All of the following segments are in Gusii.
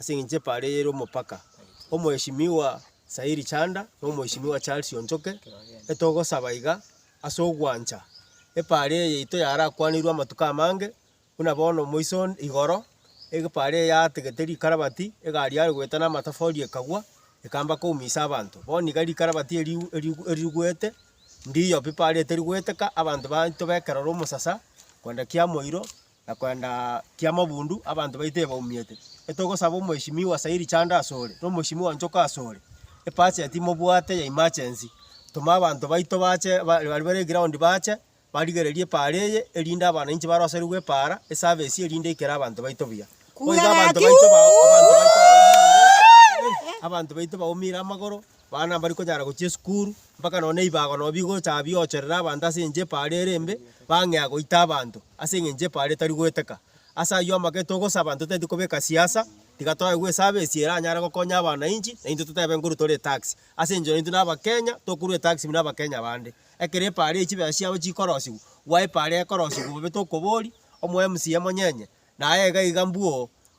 Ase engencho epaara eye ere omopaka, Omoeshimiwa Sairi Chanda na Omoeshimiwa Charles Onchoke, etogosaba iga ase ogwancha epaara eye yaito yarakwaneirwe amatuko amange buna bono moiso igoro, epaara eye yategete rikarabati, egari yare goeta na amatafari ekagwa, ekamba koumisa abanto. Bono iga rikarabati eri eri erigwete, ndiyo pi epaara eye teri goeteka, abanto baito ba ekerore omosasa, kogenda kiamoiro. na kwenda kiamabundu abanto baito ebaumiete. Etogosaba omweshimiwa sairi chande asore, na omweshimiwa nchoka asore, epasia timobwate ya emergency, toma abanto baito bache baria bare eground bache barigererie epaara eye erinde abananchi baroserigwe epaara eservice erinde ekere abanto baito buya. Abanto baito baumire abanto baito baumire amagoro. Abana mbari konyara gochia esukuru, mpaka nonya na ebibago nonya bigocha biocherera abanto ase enchera epaaro ere embe, bang'ea goita abanto ase eng'encho epaaro etari goeteka. Ase ayio amagete togosaba totaeti kobeka siasa, tiga toye gwesaba esie eranyare gokonya abanainchi, na intwe totebe nkoru tore etax. Ase enchera intwe na abakenya, tokorwa etax buna abakenya bande. Ekero epaaro echi chibesa chiabo chikorosiwa, gwaepaaro ekorosiwa bobe tokoboria, omo mca monyenye, naye iga iga mbuo.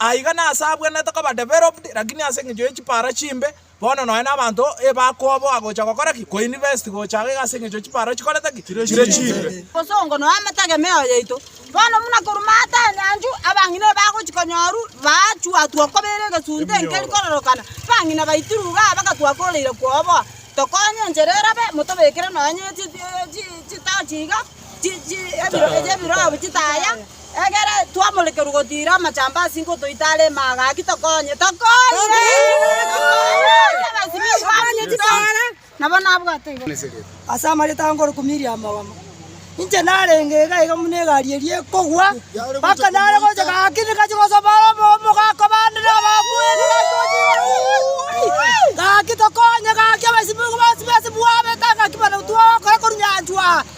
Aiga nase abwenerete koba developed, lakini ase engencho ye chipara chimbe, bono nonya na abanto ebakoboa gocha gokora ki? Ko invest gocha aiga ase engencho ye chipara chikorete ki? Chire chimbe. Obosongo noyo amategemeo yaito. Bono buna korwa maate anyanchu, abang'ina ebagochi konyoru baachwatwa okobera egesunte enkeri kororokana, bang'ina baitirwe iga aa bagatwa koreire kwoboa. Tokonye enchera erabe, motobekere nonya ne chi chi chitochi iga, chi chi ebiro ebi ebirobu chitaya. Ekero twamorekerwa gotiira amachambi ase inko toite are imaaga, gaki tokonye, tokonye! Nabo nabwate igo. Ase amarieta a Ngoroku Miriam Ogamo, inche narenge iga iga buna egari eria ekogwa, mpaka nare gocha gaki nigachia gosomba are obomo gakwa bande na abakuya nigachia gocha igoro uuii, gaki tokonye gaki abasibigwa bonsi ba esibwabete gaki barabwo twagokora korwa nyanchwa.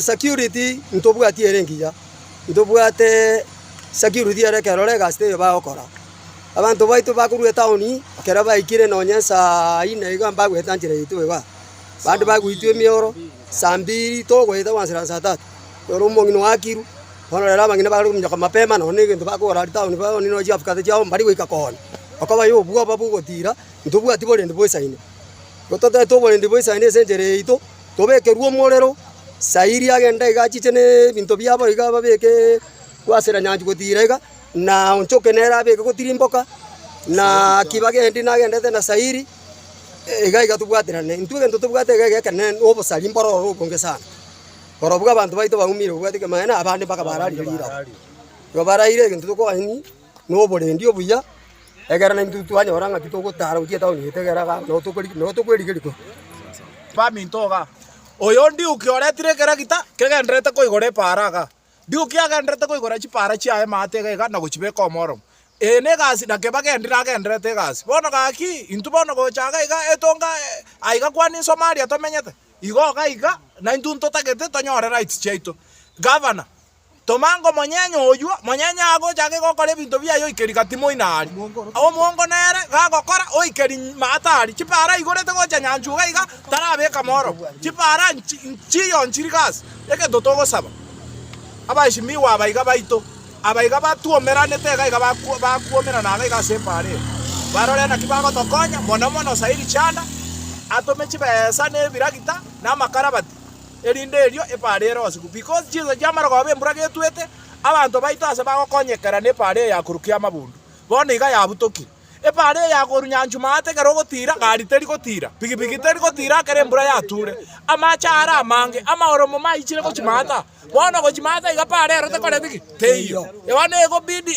Security ntobwati ere engiya, ntobwate security ere ekerore egasi teiyo bagokora. Abanto baito bakorwa etaoni, ekero baikire nonye saa inne iga mbagoeta nchera yaito igaa, bande bagoitwa emeoro, saa mbiri togoeta gwansa na saa tatu, noro omong'ina oakirwe, bono rero abang'ina bare gominyoka mapema nonye na egento bakogora aria taoni bono nonye na chiafukate chiabo mbari goika konya, okobaya obwoba bwa ogotira, ntobwati borendi bwa esaino. Igo totaete oborendi bwa esaino ase enchera yaito. tobekerwe omorero, Sayiri agende iga achiche nebinto biabo iga ababeke goasera nyanchwa gotiira iga, na onchoke nere abeke gotirimboka, na Akiba agendi nagendete na Sayiri, iga iga tobwaterane. Intwe egento tobwate iga iga ekero nere nobosari mboro oro obonge sana, korobua abanto baito baumire obwate kegima, onye nabande mpaka bararie riraba. Igo baraire egento tokogani. noborendi obuya, egerera naintwe twanyora ng'a titogotaara gochia etaoni eye, tegerera iga abwo nabo tokwerigeria korwa ase baminto iga. Oyo Ndiuki oretire ekeragita kegendererete koigora epaara iga. Ndiuki agendererete koigora chipaara chiaye amaate iga iga na gochibeka omoromo. Eye negasi na keba gendi nagendererete egasi. Bono gaki, intwe bono gocha iga iga etonga aiga kwani Somalia tomenyete, igo iga iga naintwe ntotagete tonyore rights chiaito. Governor, Toma ngomonyenye oyio, monyenye agocha ake gokora ebinto biaye oikeri gati moina aria. Omongo nere gagokora, oikeri maata aria. Chipara aigorete gocha nyanchuga iga tarabeka morogo. Chipara nchiyo nchiri gasi. Egento togosaba, abaesimigwa aba iga baito, aba iga batwomeranete iga iga bakwomerana iga iga ase epara eye, barore naki bagotokonya, mono mono Sairi Chanda, atome chibesa na ebiragita na amakarabati. erinde erio epaara ere osiku. Because chinsa chiamara koba embura getwete, abanto baito ase bagokonyekera nepaara eye ya koru kia amabundu, bono iga yabutokire. Epaara eye ya koru nyanchu maate ekero ogotira, gari teri gotira, pigipigi teri gotira ekero embura yature. Amache are amange, amaoromo maichire gochi maata. Bono gochi maata iga epaara ero tekoreti ki? Teiyo. Bono egobidi.